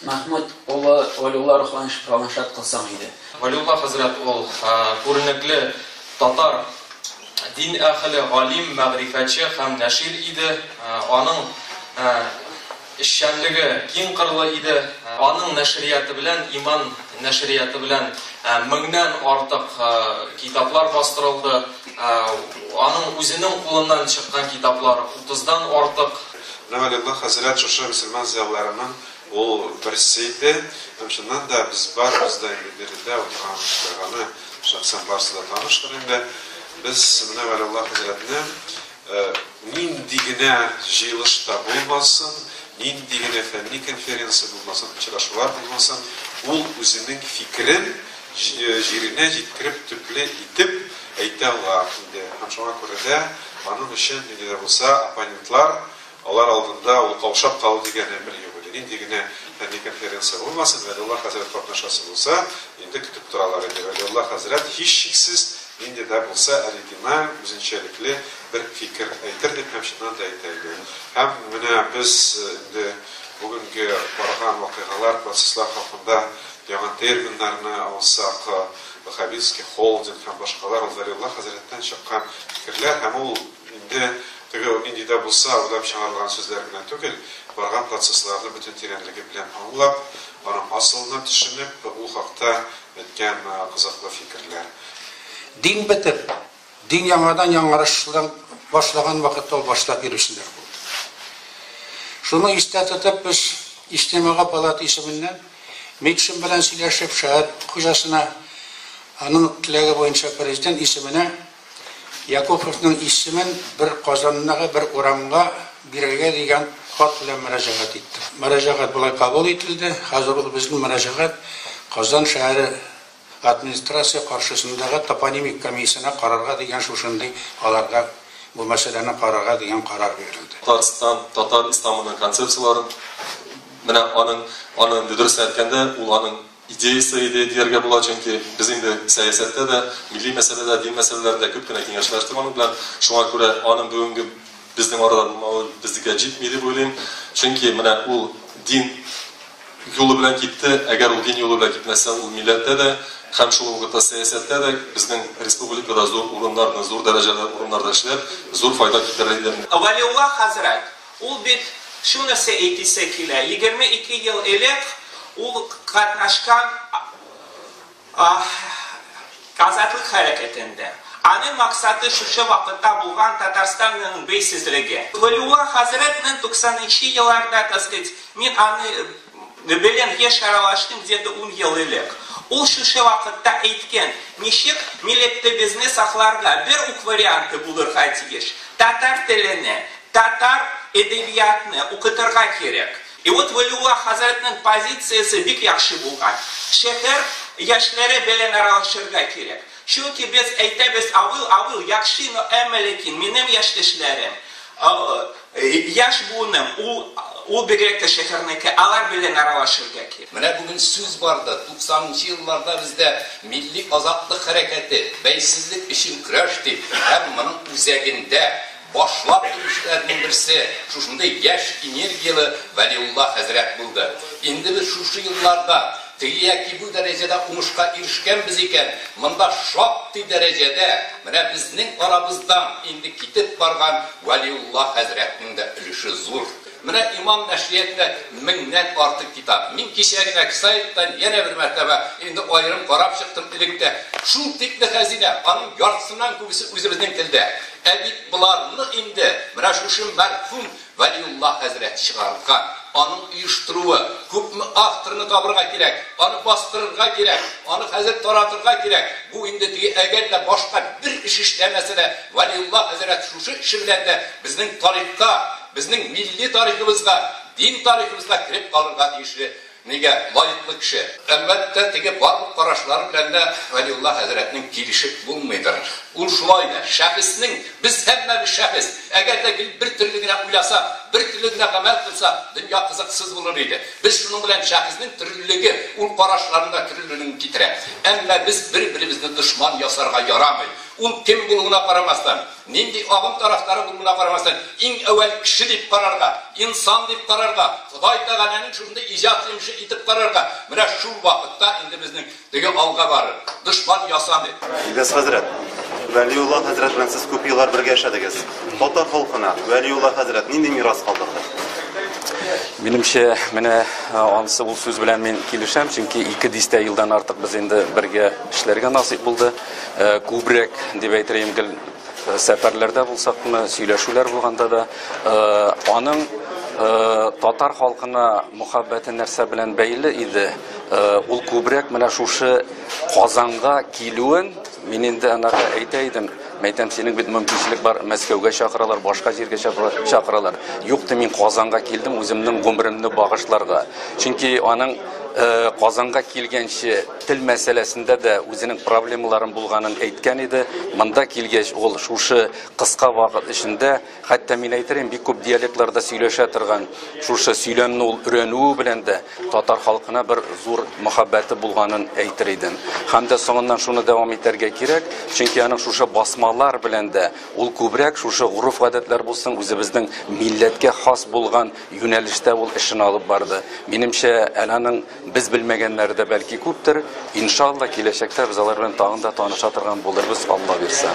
Мәхмүт улы Вәлиулла рухланышат кылсаң иде. Вәлиулла хәзрәт ул, күренекле татар дин әһеле, галим, мәгърифәтче һәм нәшир иде. Аның эшчәнлеге киң кырлы иде. Аның нәшрияты белән, иман нәшрияты белән меңнән артык китаплар бастырылды. Аның үзенең кулыннан чыккан китаплар утыздан артык. Менә Вәлиулла хәзрәт шушы мөселман зыялыларының ул берсе иде. Һәм чыннан да без барыбыз да инде биредә утырган кешеләр аны шәхсән барысы да таныштыр инде. Без менә Вәлиулла хәзрәтне нинди генә җыелышта булмасын, нинди генә фәнни конференция булмасын, очрашулар булмасын, ул үзенең фикерен җиренә җиткереп төпле итеп әйтә ала иде һәм шуңа күрә дә аның өчен нинди дә булса оппонентлар, алар алдында ул каушап калу дигән әмер юк иде. Нинди генә фәнни конференция булмасын, Вәлиулла хәзрәт катнашасы булса, инде көтеп торалар иде. Вәлиулла хәзрәт, һичшиксез, нинди дә булса оригиналь, үзенчәлекле бер фикер әйтер дип һәм чыннан да әйтә иде. Һәм менә без инде бүгенге барган вакыйгалар, процесслар хакында, Яңа терминнарны алсак, Ваһһабитский холдинг һәм башкалар ул Вәлиулла хәзрәттән чыккан фикерләр һәм ул инде теге нинди дә булса уйлап чыгарылган сүзләр генә түгел, барган процессларны бөтен тирәнлеге белән аңлап, аның асылына төшенеп, ул хакта әйткән кызыклы фикерләр. Дин бетеп. Дин яңадан яңарышлан башлаган вакытта ул башта бирүчеләр булды. Шуны истә тотып, без Иҗтимагый палата исеменнән Микшин белән сөйләшеп, шәһәр хуҗасына аның теләге буенча президент исеменә Якуповның исемен бер Казандагы бер урамга бирергә дигән хат белән мөрәҗәгать иттек. Мөрәҗәгать болай кабул ителде, хәзер ул безнең мөрәҗәгать Казан шәһәре Администрация каршысындагы топонимик комиссияне карарга дигән шушындый аларга бу мәсьәләне карарга дигән карар бирелде. Татарстан татар исламының концепцияләрен менә аның аны инде дөрестән әйткәндә ул аның идеясе иде дияргә була, чөнки без инде сәясәттә дә, милли мәсьәләдә, дин мәсьәләләрендә күп кенә киңәшләштек аның белән, шуңа күрә аның бүгенге безнең арада булмавы безнекә җитми дип уйлыйм, чөнки менә ул дин. юлы белән китте, әгәр ул дин юлы белән китмәсә, ул милләттә дә һәм шул ук вакытта сәясәттә дә, безнең республикада зур урыннарны, зур дәрәҗәле урыннарда эшләп, зур файда китерер иде. Вәлиулла хәзрәт, ул бит шул нәрсә әйтисе килә, егерме ике ел элек ул катнашкан, Азатлык хәрәкәтендә. Аның максаты шушы вакытта булган Татарстанның бейсезлеге. Вәлиулла хәзрәт мең туксан нче елларда, так сказать, мин аны беләм, еш аралаштым, где-то ун ел элек. Ул шушы вакытта әйткән, ничек милектебезне сакларга, бер үк варианты булырга тиеш, татар телене, татар әдәбиятны укытырга кирәк. И вот Вәлиулла хәзрәтнең позициясе бик яхшы булган. Шәһәр яшьләре белән аралашырга кирәк. Чөнки без әйтәбез, авыл, авыл, яхшы, но әмма ләкин минем яшьтәшләрем, яшь буыным, ул, ул бигрәк тә шәһәрнеке, алар белән аралашырга кирәк. Менә бүген сүз барды, 90 нчы елларда бездә милли азатлык хәрәкәте, бәйсезлек өчен көрәш дип, һәм моның үзәгендә Башлап килүчеләрнең берсе шушындый яшь энергияле Вәлиулла хәзрәт булды. Инде без шушы елларда теге яки бу дәрәҗәдә уңышка ирешкәнбез икән, монда шактый дәрәҗәдә менә безнең арабыздан инде китеп барган Вәлиулла хәзрәтнең дә өлеше зур. Менә имам нәшриятында меңнән артык китап. Мин кичә генә сайттан янә бер мәртәбә инде аерым карап чыктым элек тә. Шул тикле хәзинә, аның яртысыннан күбесе үзебезнең телдә. Ә бит боларны инде менә шушы мәрхүм Вәлиулла хәзрәт чыгарткан. Аның оештыруы. Күпме авторны табырга кирәк, аны бастырырга кирәк, аны хәзер таратырга кирәк. Бу инде теге әгәр дә башка бер эш эшләмәсә дә, Вәлиулла хәзрәт шушы эше белән дә безнең тарихка, Безнең милли тарихыбызга, дин тарихыбызга кереп калырга тиешле мигә лаеклы кеше. Әлбәттә, теге барлык карашлары белән дә Вәлиулла хәзрәтнең килешеп булмыйдыр. Ул шулай да, шәхеснең, без һәммәбез шәхес, әгәр дә гел бер төрле генә уйласак, бер төрле генә гамәл кылсак, дөнья кызыксыз булыр иде. Без шуның белән шәхеснең төрлелеге, ул карашларның да төрлелеген китерә. Әмма без бер-беребезне дошман ясарга ярамый. Ул кем булуына карамастан. Нинди агым тарафдары булуына карамастан, иң әүвәл кеше дип карарга, инсан дип карарга, Ходай Тәгаләнең шушындый иҗат йомышы итеп карарга, менә шул вакытта инде безнең теге алга барыр, дошман ясамый. Илгиз хәзрәт, Вәлиулла хәзрәт белән сез күп еллар бергә яшәдегез. Татар халкына Вәлиулла хәзрәт нинди мирас калдырды? Минемчә, менә ансы ул сүз белән мин килешәм, чөнки ике дистә елдан артык без инде бергә эшләргә насыйп булды. күбрәк дип әйтеләм гел сәфәрләрдә булсак мына сөйләшүләр булганда да аның татар халкына мөхәббәте нәрсә белән бәйле иде ул күбрәк менә шушы казанга килүен мин инде анага әйтә идем мәйтәм синең бит мөмкинчелек бар мәскәүгә чакыралар башка җиргә чакыралар юк ди мин казанга килдем үземнең гомеремне багышларга чөнки аның казанга килгәнче Тел мәсьәләсендә дә үзенең проблемаларын булганын әйткән иде. Монда килгәч, ул шушы кыска вакыт эчендә, хәтта мин әйтерим, бик күп диалектларда сөйләшә торган, шушы сөйләмне ул өрәнүе белән дә татар халкына бер зур мәхәббәте булганын әйтер идем. Һәм дә соңыннан шуны дәвам итәргә кирәк, чөнки аның шушы басмалар белән дә ул күбрәк шушы гореф-гадәтләр булсын, үзебезнең милләткә хас булган юнәлештә ул эшен алып барды. Минемчә, әнә аның Без белмәгәннәре дә бәлки күптер. Иншалла, киләчәктә без алар белән тагын да таныша торган булырбыз, Алла бирса.